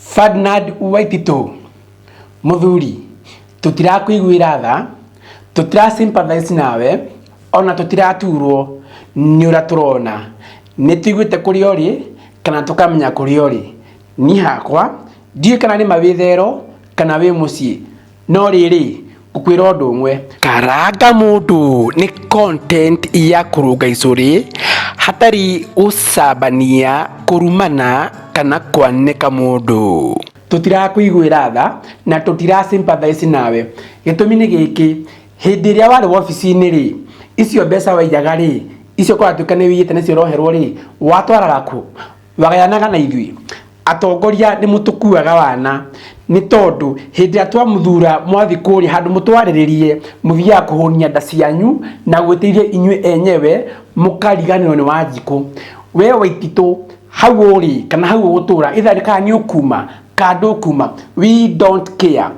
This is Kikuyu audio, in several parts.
Ferdinand Waititu, Mũthuri, tũtirakũiguĩra tha, tũtira sympathize nawe, ona tũtiraturwo nĩ ũrĩa tũrona. Nĩtũiguĩte kũrĩa ũrĩ, kana tũkamenya kũrĩa ũrĩ. Niĩ hakwa, ndiũĩ kana nĩma wĩ thero, kana wĩ mũciĩ. No rĩrĩ, ngũkwĩra ũndũ ũmwe. Karanga mũndũ nĩ content ya kũrũnga icũrĩ hatarĩ gũcambania, kũrumana kana kwanĩka mũndũ. Tũtirakũiguĩra tha na tũtira sympathize nawe. Gĩtũmi nĩ gĩkĩ, hĩndĩ ĩrĩa warĩ wobici-inĩ rĩ, icio mbeca waiyaga rĩ, icio kũratuĩka nĩ wĩiyĩte nĩcio ũroherwo rĩ, watwaraga kũ? Wagayanaga na ithuĩ. Atongoria nĩ mũtũkuaga wana nĩ tondũ hĩndĩ ĩrĩa twamũthura mwathi kũrĩa handũ mũtwarĩrĩrie mũthiaga kũhũnia nda cianyu na gwĩtĩirie inyuĩ enyewe mũkariganĩrwo nĩ wanjikũ we waititũ hau ũrĩ kana hau ũgũtũra itha nĩ kana nĩ ũkuma kana ndũkuma we don't care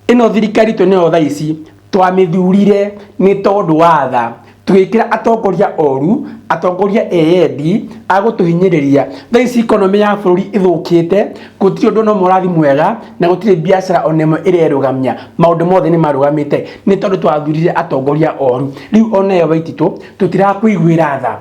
Ĩno thirikari twĩ nayo thaa ici twamĩthurire nĩ tondũ wa tha, tũgĩkĩra atongoria oru, atongoria eyendi, agũtũhinyĩrĩria. Thaa ici economy ya bũrũri ĩthũkĩte, gũtirĩ ũndũ ona ũmwe ũrathiĩ mwega, na gũtirĩ biacara ona ĩmwe ĩrerũgamia. Maũndũ mothe nĩ marũgamĩte nĩ tondũ twathurire atongoria oru. Rĩu ona we Waititũ tũtirakũiguĩra tha,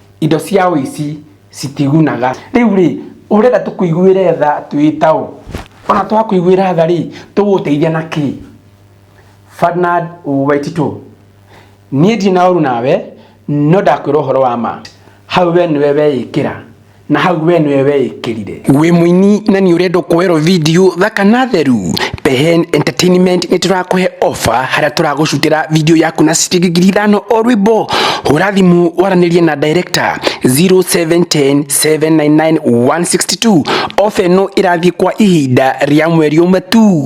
indo cia ũici citigunaga rĩu rĩ ũrenda tũkũiguĩre tha twĩtaũ ona twakũiguĩra tha rĩ tũgũteithia na kĩ Fernand Waititũ niĩ ndirĩ na ũru nawe no ndakwĩra ũhoro wa ma hau we nĩwe weĩkĩra na hau we nĩwe weĩkĩrire Wĩ mũini na nĩ ũrenda kuoerwo video thaka na theru Behen Entertainment nĩ tũrakũhe offer harĩa tũragũcutĩra video yaku na ciringi ngiri ithano o rwĩmbo hũra thimũ waranĩrie na director 0710799162 offer ĩno ĩrathiĩ kwa ihinda rĩa mweri ũmwe tu